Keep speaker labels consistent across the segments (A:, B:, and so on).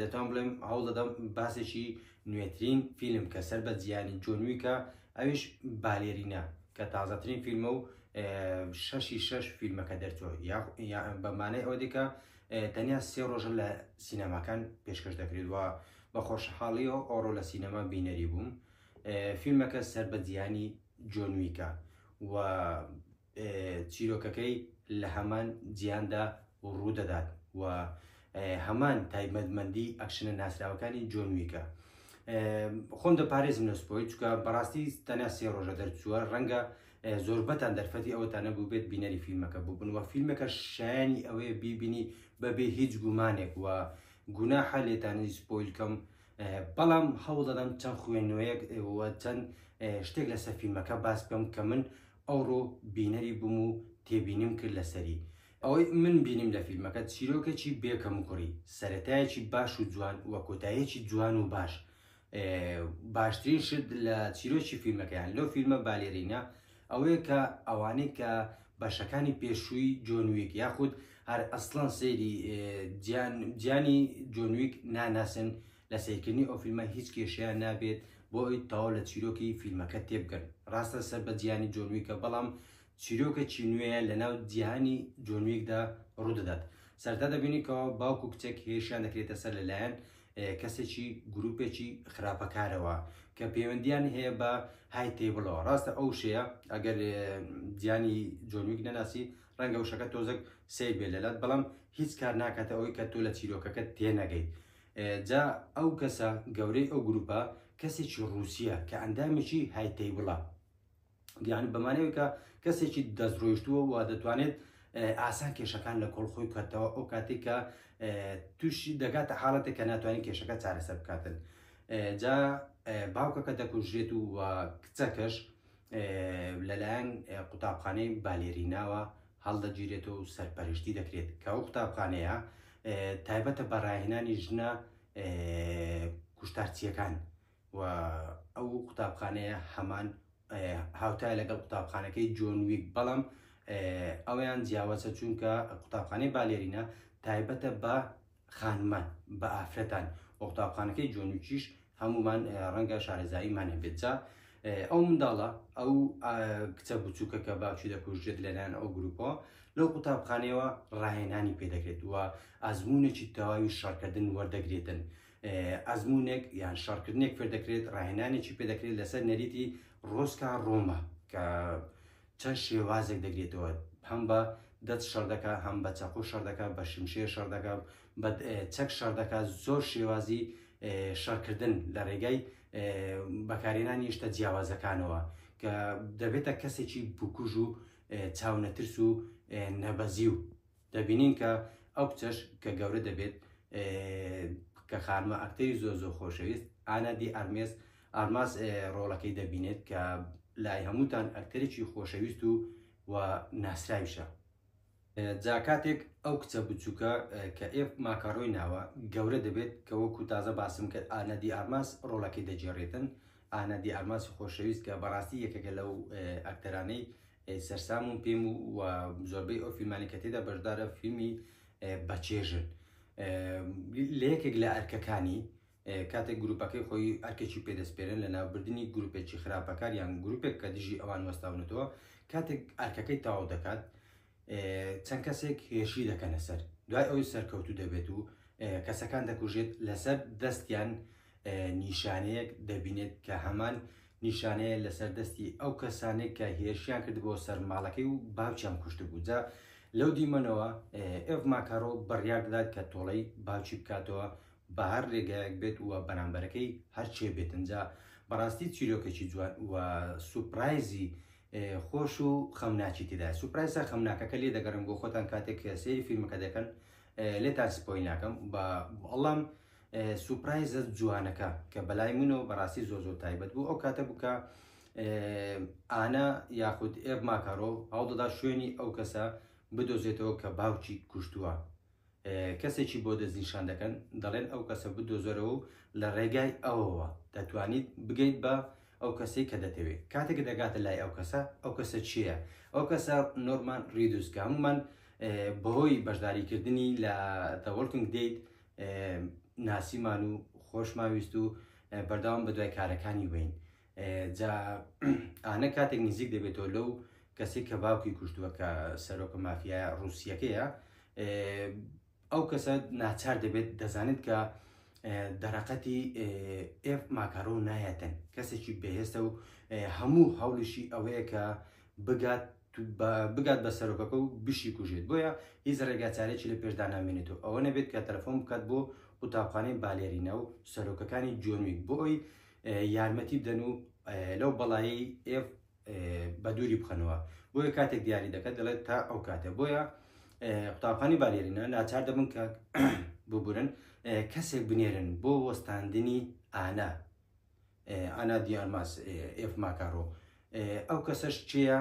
A: دەتوان بڵێم هەوڵ دەدەم باسێکی نوێترین فیلم کە سەر بە جیانی جۆنویکە ئەوش بالێرینە کە تازەترین فیلمە و شەشی شەش فیلمەکە دەرچوە بەمانەی ئەوە دیکە تەنیا سێ ڕۆژە لە سینەماکان پێشکەش دەکرێت وە بە خۆشحاڵی و ئۆڕۆ لە سینەما بینەری بووم فیلمەکە سەر بە جیانی جۆنویکە و چیرۆکەکەی لە هەمان جیهاندا ڕوودەدات و هەمان تایبەتمەندی ئەکشنە ناسراوەکانی جۆن ویکە خۆم دەپارێزم لە سپۆی چکە بەڕاستی تەنیا سێ ڕۆژە دەرچووە ڕەنگە زۆربەتان دەرفەتی ئەوەتان نەبوو بێت بینەری فیلمەکە بووبن و فیلمەکە شایانی ئەوەیە بیبینی بەبێ هیچ گومانێک و گوناحە لێتانی سپۆیلکەم بەڵام هەوڵ دەدەم چەند خوێنوەیەک چەند شتێک لەسەر فیلمەکە باس بکەم کە من ئەوڕۆ بینەری بووم و تێبینیم کرد لەسەری، ئەوەی من بینیم لە فیلمەکە چیرۆکێکی بێ کەموکوڕی، سەرەتایەکی باش و جوان و کۆتاییەکی جوان و باش، باشترین شت لە چیرۆکی فیلمەکە یان لەو فیلمە بالێرینە ئەوەیە کە ئەوانەی کە بەشەکانی پێشووی جۆن ویک یاخود هەر ئەسڵەن سەیری گیانی جۆن ویک ناناسن لە سەیرکردنی ئەو فیلمە هیچ کێشەیان نابێت بۆ ئەوی تەواو لە چیرۆکی فیلمەکە تێبگەن ڕاستە سەر بە جیانی جۆن ویکە بەڵام چیرۆکێکی نوێیە لەناو جیهانی جۆن ویکدا ڕوودەدات سەرتا دەبینی کەەوە باوک و کچێک هێشیان دەکرێتە سەر لەلایەن کەسێکی گروپێکی خراپەکارەوە کە پەیوەندیان هەیە بە های تیبڵەوە ڕاستە ئەو شەیە ئەگەر جیانی جۆنویک نەناسی ڕەنگە وشەکە تۆزەک سیر بێ لەلات بەڵام هیچ کار ناکاتە ئەوی کە تۆ لە چیرۆکەکە تێنەگەیت جا ئەو کەسە گەورەی ئەو گروپە کەسێکی ڕووسیە کە ئەندامێکی هایتەیبڵە یعنی بەمانەوەی کە کەسێکی دەستڕۆیشتووە و دەتوانێت ئاسان کێشەکان لە کۆڵ خۆی کردەوە ئەو کاتێک کە تووشی دەگاتە حاڵەتە کە ناتوانین کێشەکە چارەسەر بکاتن جا باوکەکە دەکوژرێت و کچەکەش لەلایەن قوتابخانەی بالێریناوە هەڵدەگیرێتەوە و سەرپەرشتی دەکرێت کە ئەو قوتابخانەیە تایبەتە بە ڕاهێنانی ژنە کوشتارچیەکان و ئەو قوتابخانەیە هەمان هاوتای لەگەڵ قوتابخانەکەی جۆن ویک بەڵام ئەویان جیاوازە چونکە قوتابخانەی بالێرینە تایبەتە بە خانمان بە ئافرەتان وە قوتابخانەکەی جۆنوچیش هەمومان ڕەنگە شارەزاییمان هەبێت جا ئەو منداڵە ئەو کچە بچووکە کە باوکی دەکوژێت لەلایەن ئەو گروپەوە لەو قوتابخانەوە ڕاهێنانی پێدەکرێت وە ئازمونێکی تەواوی شەڕکردن وەردەگرێتن ئەزمونێک یان شەڕکردنێک فێردەکرێت ڕاهێنانێکی پێدەکرێت لەسەر نەریتی ڕۆسکا ڕۆما کە چەند شێوازێک دەگرێتەوە، هەم بە دەست شەڕ دەکات، هەم بە چەقۆ شەڕ دەکات، بە شمشێر شەڕ دەکات، بە چەک شەڕ دەکات، زۆر شێوازی شەڕکردن لە ڕێگای بەکارهێنانی هێشتە جیاوازەکانەوە کە دەبێتە کەسێکی بکوژ و چاونەترس و نەبەزی و دەبینین کە ئەو کچەش کە گەورە دەبێت کە خانمە ئەکتەری زۆر زۆر خۆشەویست ئانا دی ئارمێس ئارماس ڕۆڵەکەی دەبینێت کە لای هەمووتان ئەکتەرێکی خۆشەویست و و ناسراویشە جا کاتێک ئەو کچە بچووکە کە ئێف ماکارۆی ناوە گەورە دەبێت کە وەکو تازە باسم کرد ئانا دی ئارماس ڕۆڵەکەی دەجێڕێتن ئانا دی ئارماسی خۆشەویست کە بەڕاستی یەکەکە لەو ئەکتەرانەی سەرسامم پێم و و زۆربەی ئەو فیلمانی کە تێدا بەشدارە فیلمی بەچێژن لە یەکێک لە ئەرکەکانی کاتێک گروپەکەی خۆی ئەرکێکی پێدەستپێرن لە ناوبردننی گروپێکی خراپەکان یان گروپێک کە دژی ئەوان وەستاونەتەوە کاتێک ئەرکەکەی تاو دەکات چەند کەسێک هێشی دەکەنە سەر دوای ئەوی سەرکەوتو دەبێت و کەسەکان دەکوژێت لەسەر دەستیان نیشانەیەک دەبینێت کە هەمان نیشانەیە لەسەر دەستی ئەو کەسانێک کە هێرشیان کرد بۆ سەر ماڵەکەی و باوچیان کوشت بوو جا لەو دیمەنەوە ئێڤ ماکارۆ بڕیار دەدات کە تۆڵەی باوچی بکاتەوە بە هەر ڕێگایەک بێت و بەرامبەرەکەی هەرچێ بێتنجا بەڕاستی چیرۆکێکی جوان و سوپرایزی خۆش و خەمناچی تێدا سوپرایسە خەمناکەکە لێ دەگەڕم بۆ خۆتان کاتێک سێری فیلمەکە دەکەن لێتان سپۆی ناکەم بە بەڵام سوپرایزە جوانەکە کە بەلای منەوە بەڕاستی زۆر زۆر تایبەت بوو ئەو کاتە بووکە ئانا یاخود ئێب ماکارۆ هەوڵدەدا شوێنی ئەو کەسە بدۆزێتەوە کە باوکی کوشتووە کەسێکی بۆ دەستنیشان دەکەن دەڵێن ئەو کەسە بدۆزەرەوە و لە ڕێگای ئەوەوە دەتوانیت بگەیت بە ئەو کەسەی کە دەتەوێت کاتێک دەگاتە لای ئەو کەسە ئەو کەسە چییە ئەو کەسە نۆرمان ریدوسکە هەمومان بەهۆی بەشداریکردنی لە تەوەڵکن دەیت ناسیمان و خۆشمان ویست و بەرداوام بە دوای کارەکانی بین جا ئانە کاتێک نزیک دەبێتەوە لەو کەسی کە باوکی کوشتووە کە سەرۆکە مافیا رووسەکەیە ئەو کەسە ناچار دەبێت دەزانێت کە دەرەقەتی ئف ماکارۆ نایەتن کەسێکی بەهێستە و هەموو هەوڵیشی ئەوەیە کە بگات بگات بە سەرۆکەکە و بشیکوژێت، بۆیە هیچ ڕێگاچارەیەکی لە پێشدا نامێنێت و ئەوە نەبێت کە تەلەفۆن بکات بۆ قوتابخانەی بالێرینا و سەرۆکەکانی جۆن ویک بۆ ئەوی یارمەتی بدەن و لەو بەڵایی ئێف بە دووری بخەنەوە بۆیە کاتێک دیاری دەکات دەڵێت تا ئەو کاتە بۆیە قوتابخانی بالێرینا ناچار دەبن کە ببورن کەسێک بنێرن بۆ وەستاندنی ئانا ئانا دیارماس ئێف ماکارۆ ئەو کەسەش چێە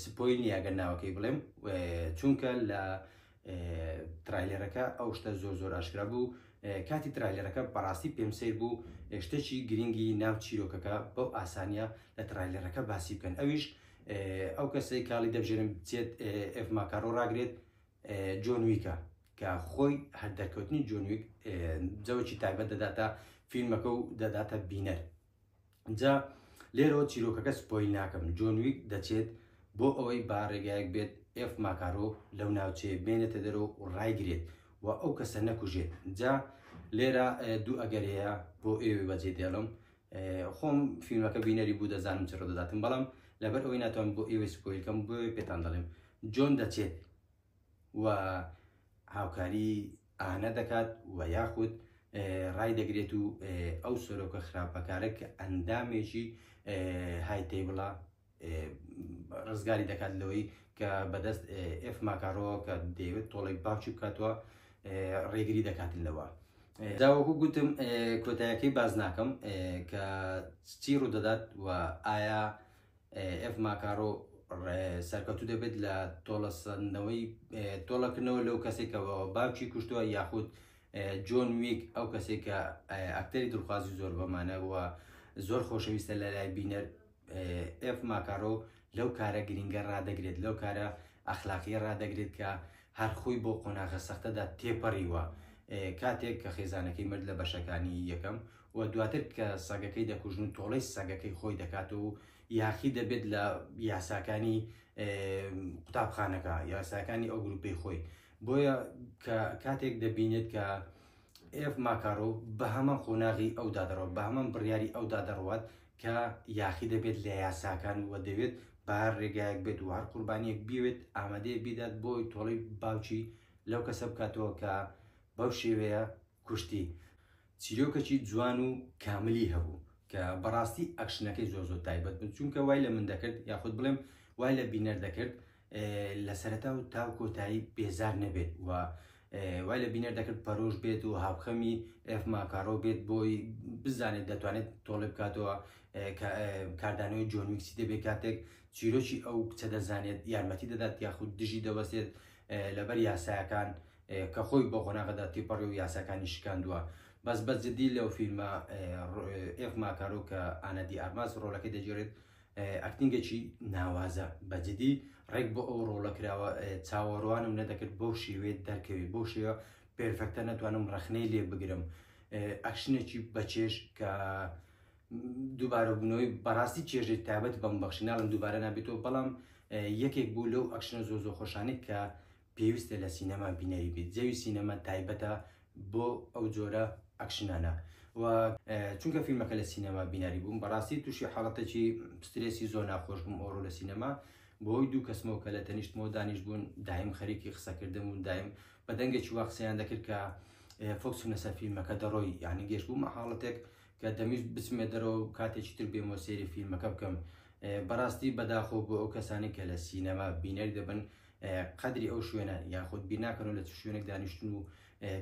A: سپۆی نیاگەر ناوەکەی بڵێم چونکە لە ترایلەرەکە ئەو شتە زۆر زۆر ئاشکرا بوو کاتی ترایلەرەکە بەڕاستی پێم سیر بوو شتێکی گرنگی ناو چیرۆکەکە بەو ئاسانە لە ترایلەرەکە باسی بکەن ئەویش ئەو کەسەی کاڵی دەبژێنم بچێت ئەف ماکارۆ ڕاگرێت جۆنویکە کە خۆی هەر دەرکەوتنی جۆنویک جەوەکی تایبەت دەداتە فیلمەکە و دەداتە بینەر جا لێرەوە چیرۆکەکە سپۆیل ناکەم جۆنویک دەچێت بۆ ئەوەی باڕێگایەک بێت ئف ماکارۆ لەو ناوچەیە بێنێتە دەرۆ و ڕایگرێت و ئەو کەسە نەکوژێت جا لێرە دوو ئەگەرەیە بۆ ئێوە بەجێ دێڵم خۆم فیلمەکە بینەری بوو دەزانم چڕ دەداتم بەڵام لەبەر ئەوەی ناتوان بۆ ئێوەی سپۆیلکەم بۆ پێتان دەڵێم جۆن دەچێت و هاوکاری ئانە دەکات و یاخود ڕایدەگرێت و ئەو سەرۆکە خراپەکارە کە ئەندامێکی های تەیبڵە ڕزگاری دەکات لەوەی کە بەدەست ئف ماکارۆ کە دەیەوێت تۆڵێک باچوو بکاتوە ڕێگری دەکاتن لەوە. داوەکو گوتم کۆتایەکەی باز ناکەم کە چی ڕوودەدات و ئایا ئێڤ ماکارۆ سەرکەوتوو دەبێت لە تۆڵەسەندنەوەی تۆڵەکردنەوە لەو کەسێکەوە باوکی کوشتووە یاخود جۆن ویک ئەو کەسێک کە ئەکتەری دڵخوازی زۆر بەمانەوە زۆر خۆشەویستە لە لای بینەر ئێف ماکارۆ لەو کارە گرنگە ڕدەگرێت لەو کارە ئەخلاقیە ڕدەگرێت کە هەرخۆی بۆ قۆناغە سەختەدا تێپەڕیوە کاتێک کە خێزانەکەی مرد لە بەشەکانی یەکەم و دواتر کە سەگەکەی دەکوژن و تۆڵەی سەگەکەی خۆی دەکات و یاخی دەبێت لە یاساکانی قوتابخانەکە یاساکانی ئەو گروپی خۆی بۆیە کە کاتێک دەبینێت کە ئف ماکارۆ بە هەمان قۆناغی ئەو دادڕەوە بە هەمان بڕیاری ئەو دادڕوات کە یاخی دەبێت لە یاساکان و دەوێت بار ڕێگایەک بێت و هەر قوربانیەک بیوێت ئامادەیە بیدات بۆی تۆڵی باوکی لەو کەسە بکاتەوە کە بەو شێوەیە کوشتی چیرۆکەکی جوان و کاملی هەبوو کە بەڕاستی ئەکشنەکەی زۆر زۆر تایبەت بن چونکە وای لە من دەکرد یاخود بڵێم وای لە بینەر دەکرد لە سەرەتا و تاو کۆتایی بێزار نەبێت و وای لە بینەر دەکرد پەرۆش بێت و هاوخەمی ئەف ماکارۆ بێت بۆی بزانێت دەتوانێت تۆڵێ بکاتەوە کاردانەوەی جۆنویکسی دەبێت کاتێک چیرۆکی ئەو کچە دەزانێت یارمەتی دەدات یاخود دژی دەوەسێت لەبەر یاسایەکان کە خۆی بە قۆناغەدا تێپەڕی و یاساکانی شکاندووە بەس بە جدی لەو فیلمە ئێف ماکارۆ کە ئانەدی ئارماس ڕۆلەکەی دەگێرێت ئەکتنگەکی ناوازە بەجدی ڕێک بۆ ئەو ڕۆڵە کراوە چاوەڕوانم نەدەکرد بەو شێوێت دەرکەوێت بۆ شێوە پێرفەکتە نەتوانم ڕەخنەی لێ بگرم ئەکشنێکی بەچێش کە دووبارەبوونەوەی بەڕاستی چێژێک تابەت بەم بەخشی ناڵم دووبارە نابێتەوە بەڵام یەکێک بوو لەو ئەکشنە زۆ زۆ خۆشانێک کە پێویستە لە سینەما بینەری بیت جەوی سینەما تایبەتە بۆ ئەو جۆرە ئەکشنانە و چونکە فیلمەکە لە سینەما بیناری بووم بەڕاستی تووشی حاڵەتێکی سترێسی زۆر ناخۆش بووم ئەوڕۆ لە سینەما بۆی دوو کەسمەوە کە لە تەنیشتمەوە دانیش بوون دایم خەریکی قسەکردن و دایم بە دەنگێکی وا قسەیان دەکرد کە فۆکسم لەسەر فیلمەکە دەڕۆی یعنی گەشت بوومە حاڵەتێک کە دەمیست بچمێ دەرەوە کاتێکی تر بێمە سێری فیلمەکە بکەم بەڕاستی بەداخۆ بۆ ئەو کەسانی کە لە سینەما بینەر دەبن قەدری ئەو شوێنە یاخود بیناکەن و لە چ شوێنێک دانیشتن و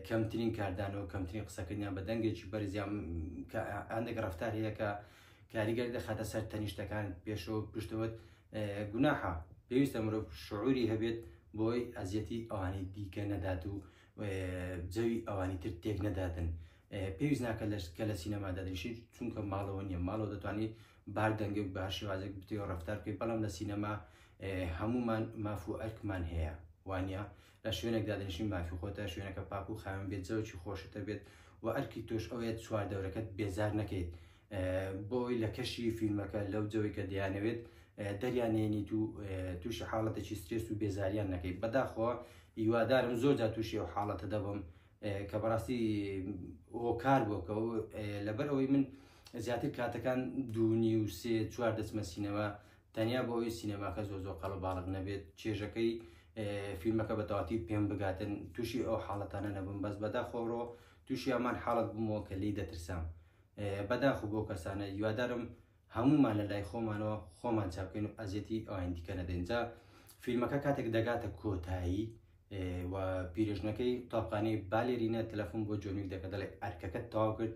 A: کەمترین کاردانەوە کەمترین قسەکردیان بە دەنگێکی بەرزیان هەندێک ڕفتار هەیە کە کاریگەر دەخاتە سەر تەنیشتەکان پێشەوە پشتەوەت گوناحە پێویستە مرۆڤ شعوری هەبێت بۆی ئەزیەتی ئەوانی دیکە نەدات و جەوی ئەوانی تر تێک نەدادن پێویست ناکە لەش کە لە سینەما دەدرشی چونکە ماڵەوە نیە ماڵەوە دەتوانانی بار دەنگێک بە هەر شێوازێک بتێ و ڕفتار بکەیت بەڵام لە سینەما هەمومان ماف و ئەرکمان هەیە وانە لە شوێنێک دادنشین مافی خۆتە شوێنەکە پاک و خاوێن بێت زەوکی خۆشتە بێت و ئەرکی تۆش ئەوەیە چوار دەورەکەت بێزار نەکەیت بۆی لە کەشی فیلمەکە لەو جەوەی کە دەیانەوێت دەریانێنی تو تووشی حاڵەتێکی سترێس و بێزاریان نەکەیت بەداخۆ هیوادارم زۆر جا تووشی و حاڵەتە دەبم کە بەڕاستی هۆکار بۆ کە لەبەر ئەوەی من زیاتر کاتەکان دوونی و سێ چوار دەچمە سینەما تەنیا بۆ ئەوی سینەماکە زۆ زۆ قەڵە باڵق نەبێت چێژەکەی فیلمەکە بە تەواتی پێم بگاتن تووشی ئەو حاڵەتانە نەبم بەس بەدا خۆڕۆ تووشی ئەمان حاڵت بمەوە کە لی دەترسام بەداخ بۆ کەسانە یوادارم هەموومان لە لای خۆمانەوە خۆمان چاکەین و ئەزیەتی ئەوانی دیکە نەدەین جا فیلمەکە کاتێک دەگاتە کۆتایی و پیرژنەکەی قوتابخانەی بالێرینە تەلەفۆن بۆ جۆنویک دەکە دەڵێ ئەرکەکەت تەواو کرد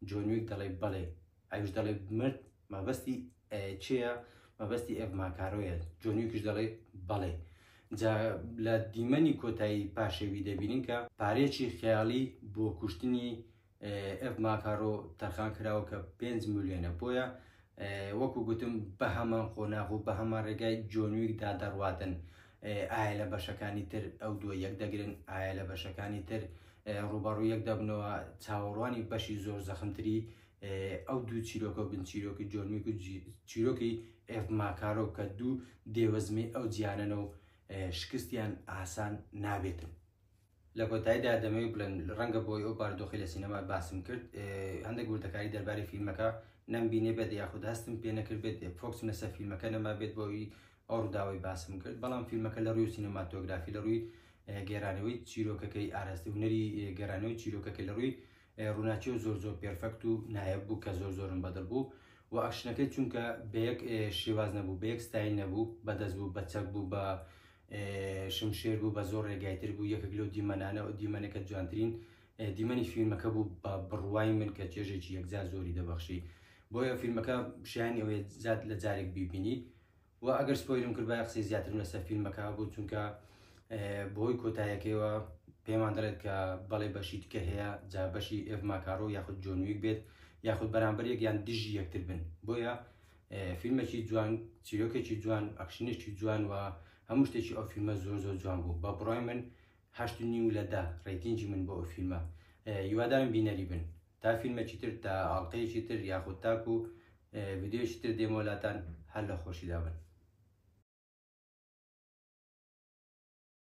A: جۆنویک دەڵێ بەڵێ ئەوش دەڵێ مرد مەبەستی چێە مەبەستی ئەف ماکارۆیە جۆنویکش دەڵێ بەڵێ جا لە دیمەنی کۆتایی پاشەوی دەبینین کە پارێکی خیاڵی بۆ کوشتنی ئەڤ ماکارۆ تەرخان کراوە کە پێنج ملیۆنە بۆیە وەکو گوتم بە هەمان قۆناغ و بە هەمان ڕێگای جۆنویکدا دەڕواتن ئایا لە بەشەکانی تر ئەو دووە یەک دەگرن ئایا لە بەشەکانی تر ڕوبەڕوو یەک دەبنەوە چاوەڕوانی بەشی زۆر زەخمتری ئەو دوو چیرۆکە بن چیرۆکی جۆنویک و چیرۆکی ئێف ماکارۆ کە دوو دێوەزمی ئەو جیانەنە و شکستیان ئاسان نابێتن لە کۆتاییدا دەمەوێت بڵێم ڕەنگە بۆی ئەو باردۆخی لە سینەما باسم کرد هەندێک وردەکاری دەرباری فیلمەکە نەمبینێ بێت یاخود هەستم پێ نەکرد بێت فۆکسم لەسەر فیلمەکە نەما بێت بۆی ئەو ڕووداوی باسم کرد بەڵام فیلمەکە لە ڕووی سینەماتۆگرافی لە ڕووی گێرانەوەی چیرۆکەکەی ئاراست هوەری گەرانەوەی چیرۆکەکە لە ڕووی ڕووناچی و زۆر زۆر پێرفەکت و نایە بوو کە زۆر زۆرم بەدڵ بوو و ئەکشنەکەی چونکە بە یەک شێواز نەبوو بە یەک ستای نەبوو بەدەست بوو بە چەک بوو بە شمشێر بوو بە زۆر ڕێگای تر بوو یەکێک لەو دیمەنانە و دیمەنەکە جوانترین دیمەنی فیلمەکە بوو بە بڕوای من کە چێژێکی یەکجار زۆری دەبەخشی بۆیە فیلمەکە شیان ئەوێ زیاد لە جارێک بیبینی و ئەگەر سپۆیلم کرد بای قسەی زیاترم لەسەر فیلمەکە بوو چونکە بۆی کۆتایەکەیەوە پێمان دەڵێت کە بەڵێ بەشی تکە هەیە جا بەشی ئێڤ ماکارۆ یاخود جۆنویک بێت یاخود بەرامبەر یەکیان دژی یەکتر بن بۆیە فیلمێکی جوان چیرۆکێکی جوان ئەکشنێکی جوان و هەموو شتێکی ئەو فیلمە زۆر زۆر جوان بوو بە بڕای من هەشت نیو لە دە ڕێتینجی من بۆ ئەو فیلمە یوادایم بینەری بن تا فیلمێکی تر تا ئاڵلقەیەکی تر یاخود تاکو ویددیوشی تر دێمۆلاتان هەر لە خۆشیدا بن